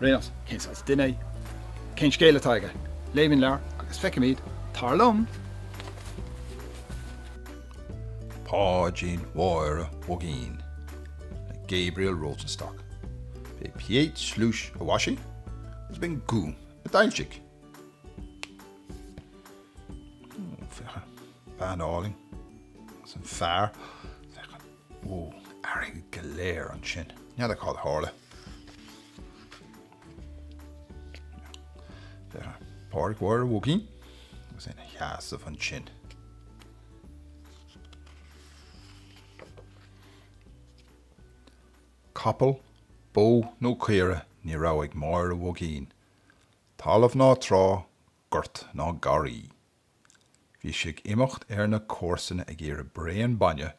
Níl a fhios, cén saghas duine é, cén scéal atá aige. Léimis an leabhar agus feicimid, tar liom! Páidín Mháire Mhuigín le Gabriel Rosenstock. B'é Piet Sluis a mhaisigh agus b'é An Gúm a d'fhoilsigh. Bean álainn agus an fear. Ó, airgead go léir ansin. N'fheadar cad a tharla. Pádraic Mháire Mhuigín agus é ina sheasamh ansin. Capall, bó nó caora ní raibh ag Máire Mhuigín, talamh ná trá, gort ná garraí. Bhí sí ag imeacht ar na comharsana ag iarraidh braon bainne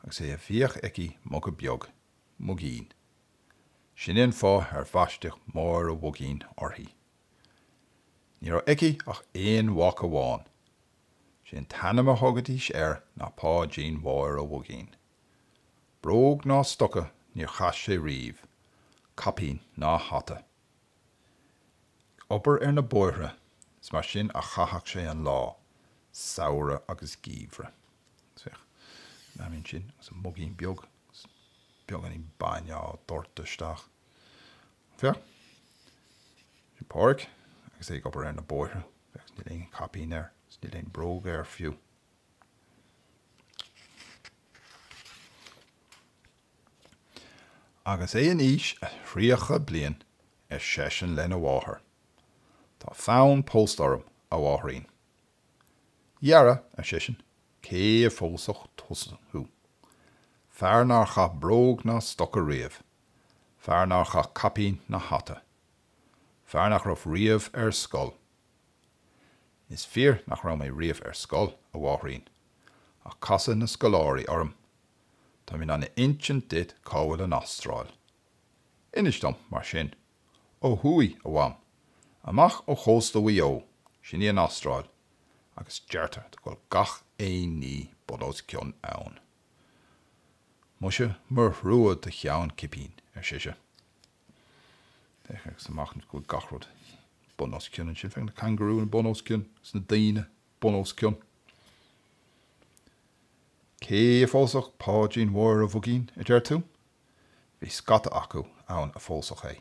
agus is é a bhíodh aici muga beag, muigín. Sin é an fáth ar bhaisteadh Máire Mhuigín uirthi. Ní raibh aici ach aon mhac amháin. Sé an t-ainm a thugaidís air ná Páidín Mháire Mhuigín. Bróg ná stoca níor chaith sé riamh, caipín ná hata. ag obair ar na bóithre, is mar sin a chaitheadh sé an lá, samhradh agus geimhreadh. Féach, í féin ansin agus an muigín beag agus beagáinín bainne á dhoirteadh isteach. Féach, ansin Pádraic agus é ag obair ar na bóithre. Féach, níl aon chaipín air agus níl aon bhróg air fiú. Agus é in aois a thríocha bliain, ar seisean lena mháthair, Tá fonn pósta orm, a mháithrín. Dheara, ar seisean, cé a phósfadh tusa? Fear nár chaith bróg ná stoca riamh. Fear nár chaith caipín ná hata. Fear nach raibh riamh ar scoil. Is fíor nach raibh mé riamh ar scoil, a mháithrín, ach casadh na scoláirí orm. Táim in ann a inseacht duit cá bhfuil an Astráil. Inis dom, mar sin. Ó thuaidh, a Mham, amach ó chósta Mhaigh Eo, sin í an Astráil, agus deirtear go bhfuil gach aon ní bun os cionn ann. Muise mo thrua do cheann cipín, ar sise. Féach isteach anois go bhfuil gach rud bun os cionn ansin. Féach na cangarúin bun os cionn, agus na daoine. bun os cionn. Cé a phósfadh Páidrín Mháire Mhugín, a deir tú? Bhí scata acu ann a phósfadh é.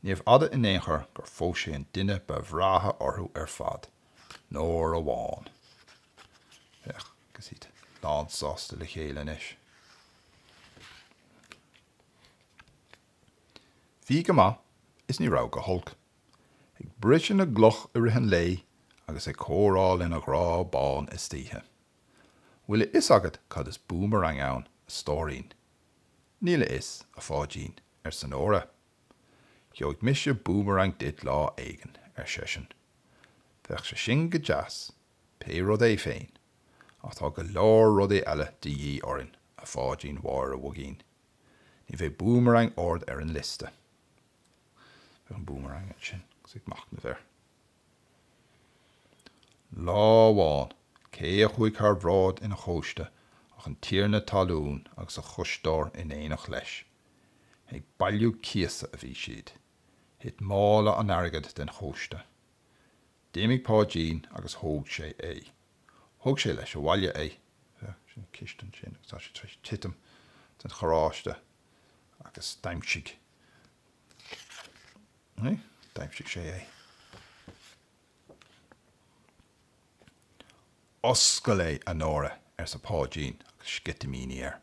Níorbh fhada in aon chor gur phós sé an duine ba bhreátha orthu ar fad, Nóra Bhán. Féach, agus iad lánsásta le chéile anois. Bhí go maith is ní raibh go holc. ag briseadh na gcloch i rith an lae agus ag comhrá lena ghrá bán istoíche. Bhfuil a fhios agat cad is búmarang ann, a stóirín? Níl a fhios, a Pháidín, arsa Nóra. Gheobhaidh mise búmarang duit lá éigin, ar seisean. Bheadh sé sin go deas, pé rud é féin, ach tá go leor rudaí eile de dhíth orainn, a Pháidín Mháire Mhugín. Ní bheidh búmarang ard ar an liosta. Beidh an búmarang ansin agus ag machnamh air. Lá amháin, cé a chuaigh thar bhráid ina chóiste ach an tiarna talún agus a choisteoir in éineacht leis. Ag bailiú cíosa a bhí siad. Thit mála an airgid den chóiste. D'imigh Páidín agus thóg sé é. Thóg sé leis abhaile é. Sin ciste ansin agus tá sé tar éis titim den charráiste agus d'aimsigh D'aimsigh sé é. Oscail é, a Nóra, arsa Páidín agus sceitimíní air.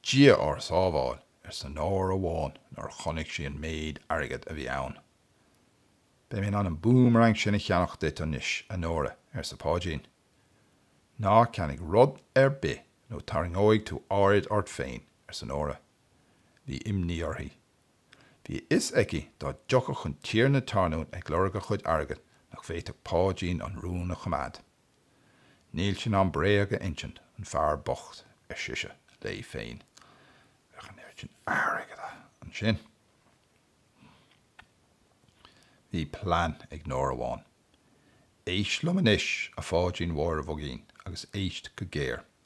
Dia ár sábháil, arsa Nóra Bhán nuair a chonaic sí an méid airgid a bhí ann. Beidh mé in ann an búmarang sin a cheannach duit anois, a Nóra, arsa Páidín. Ná ceannaigh rud ar bith nó tarraingeoidh tú aird ort féin, arsa Nóra. Bhí imní uirthi. Bhí a fhios aici dá dtiocfadh an tiarna talún ag lorg a chuid airgid nach bhféadfadh Páidín an rún a choimeád. Níl sé in ann bréag a insint, an fear bocht, ar sise léi féin. Bheadh an oiread sin airgead ansin. Bhí plean ag Nóra Bhán. Éist liom anois, a Pháidín Mháire Mhugín, agus éist go géar.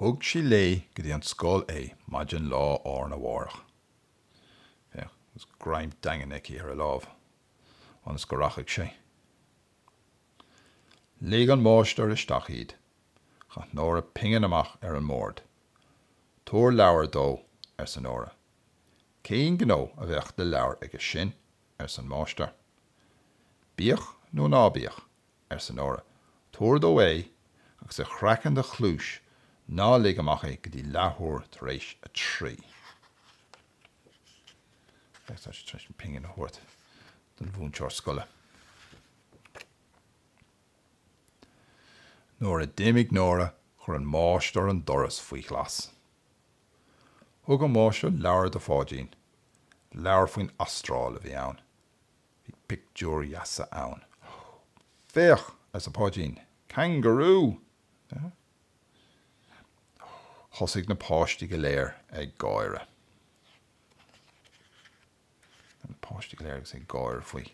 Thug sí léi go dtí an scoil é maidin lá arna mhárach. Féach, agus greim daingean aici ar a lámh, ionas go rachaidh sé. Ligh an máistir isteach iad. Chaith Nóra pingin amach ar an mbord. Tabhair leabhar dó, arsa Nóra. Cén gnó a bheadh le leabhar aige sin? arsa an máistir. Bíodh nó ná bíodh, arsa Nóra. 'Tabhair dó é, agus ar chraiceann do chluais ná lig amach é go dtí leathuair tar éis a trí. Tá sé tar éis pingin a thabhairt don mhúinteoir scoile. Nuair a d'imigh Nóra chuir an máistir an doras faoi ghlas. Thug an máistir leabhar do Pháidín, leabhar faoin Astráil a bhí ann. Bhí pictiúir dheasa ann. Féach, arsa Páidín, cangarú! Thosaigh na páistí go léir ag gáire. Féach na páistí go léir agus ag gáire faoi.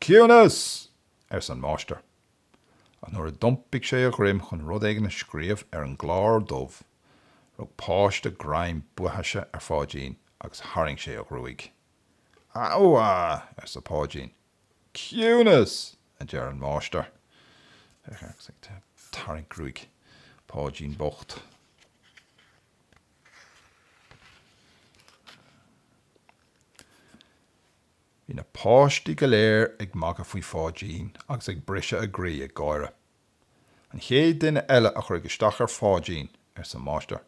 Ciúnas! arsa an máistir. ach nuair a d'iompaigh sé a dhroim chun rud éigin a scríobh ar an gclár dubh, rug páiste greim baithise ar Pháidín agus tharraing sé a ghruaig. Abha! arsa Páidín. Ciúnas! a deir an máistir. Féach air agus é ag tarraingt gruaig Pháidín bocht. Bhí na páistí go léir ag magadh faoi Pháidín agus ag briseadh a gcroí ag gáire. An chéad duine eile a chuirfidh isteach ar Pháidín, arsa an máistir,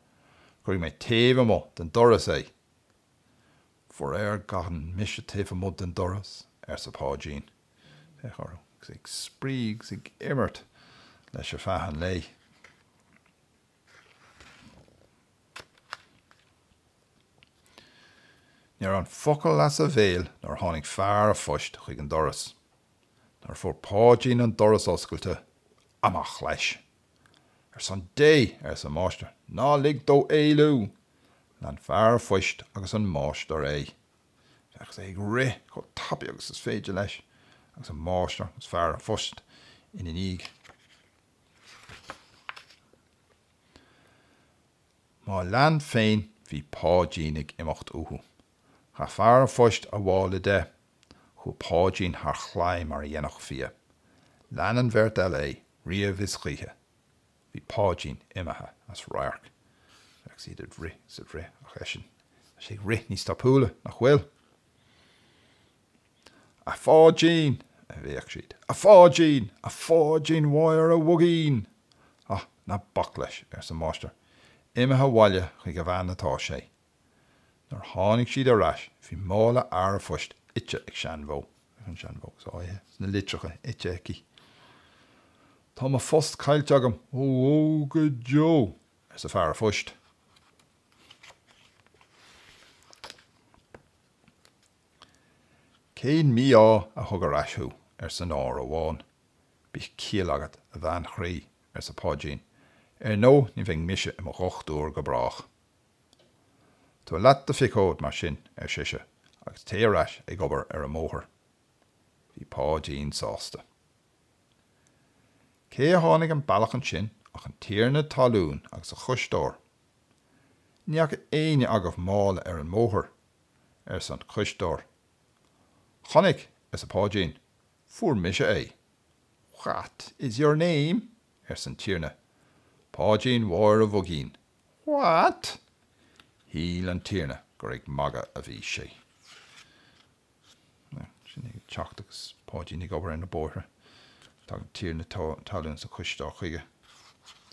cuirfidh mé taobh amuigh den doras é. Faraor gan mise taobh amuigh den doras, arsa Páidín. Féach orthu, agus é ag spraoi agus ag imirt leis ar feadh an lae. Ní raibh an focal as a bhéal nuair a tháinig fear an phoist chuig an doras. Nuair a fuair Páidín an doras oscailte, amach leis. Ar son Dé, arsa an máistir, ná lig dó éalú! Lean fear an phoist agus an máistir é. Féach, sé ag rith chomh tapaidh agus is féidir leis, agus an máistir agus fear an phoist ina ndiaidh. Má lean féin bhí Páidín ag imeacht uathu. Chaith fear an phoist a mhála de. Chuaigh Páidín thar chlaí mar a dhéanfadh fia. Lean an bheirt eile é, riamh is choíche. Bhí Páidín imithe as radharc. Féach iad ag rith is ag rith ach eisean, tá sé ag rith níos tapúla, nach bhfuil? A Pháidín! a bhéic siad. A Pháidín! A Pháidín Mháire Mhuigín! Á, ná bac leis, arsa an máistir, imithe abhaile chuig a bhean atá sé. Nuair a tháinig siad ar ais bhí mála fhear an phoist ite ag seanbhó. Féach an seanbhó agus í tar éis na litreacha ite aici. Tá mo phost caillte agam. Ó, ó, go deo! arsa fear an phoist. Cén mí-ádh a thug ar ais thú? arsa Nóra Bhán. Bíodh ciall agat, a bhean chroí, arsa Páidín, ar ndóigh ní bheidh mise i mo dhochtúir go brách. Tabhair leat do phiocóid, mar sin, ar sise, agus téigh ar ais ag obair ar an mbóthar. Bhí Páidín sásta. Cé a tháinig an bealach ansin ach an tiarna talún agus a chóisteoir. Ní fhaca éinne agaibh mála ar an mbóthar, arsa an cóisteoir. Chonaic, arsa Páidín. Fuair mise é. What is your name? arsa an Tiarna. Páidín Mháire Mhuigín. What? Shíl an Tiarna gur ag magadh a bhí sé. Sin é ag teacht agus Páidín ag obair ar na bóithre. Tagann an Tiarna talún is an cóisteoir chuige.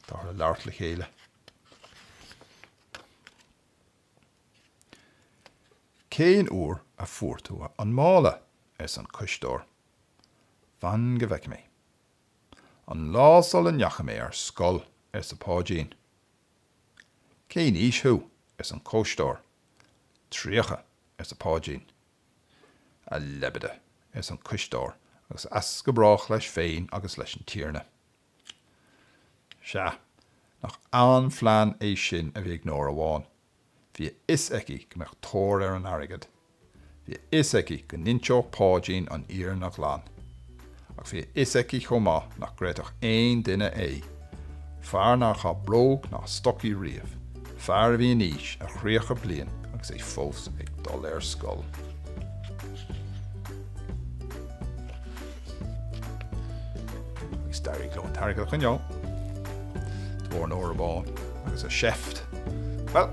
Táthar ag labhairt le chéile. Cén uair a fuair tú an mála? ars an cóisteoir. Fan go bhfeice mé. An lá sula ndeachaigh mé ar scoil, arsa Páidín. Cén aois thú? ars an cóisteoir. Tríocha, arsa Páidín. A leibide, ars an cóisteoir agus as go brách leis féin agus leis an Tiarna. Sea, nach an-phlean é sin a bhí ag Nóra Bhán. Bhí a fhios aici go mbeadh tóir ar an airgead. Bhí a fhios aici go n-inseodh Páidín an fhírinne ghlan. Ach bhí a fhios aici chomh maith nach gcreidfeadh aon duine é. Fear nár chaith bróg ná stocaí riamh. Fear a bhí in aois a thríocha bliain agus é fós ag dul ar scoil. Is d'éirigh leo an t-airgead a choinneáil de bharr Nóra Bhán agus a seift. Bhuel,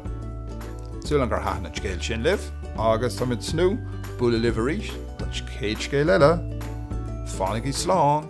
súil agam gur thaitin an scéal sin libh agus tá muid ag tnúth bualadh libh arís don chéad scéal eile. Fanaigí slán!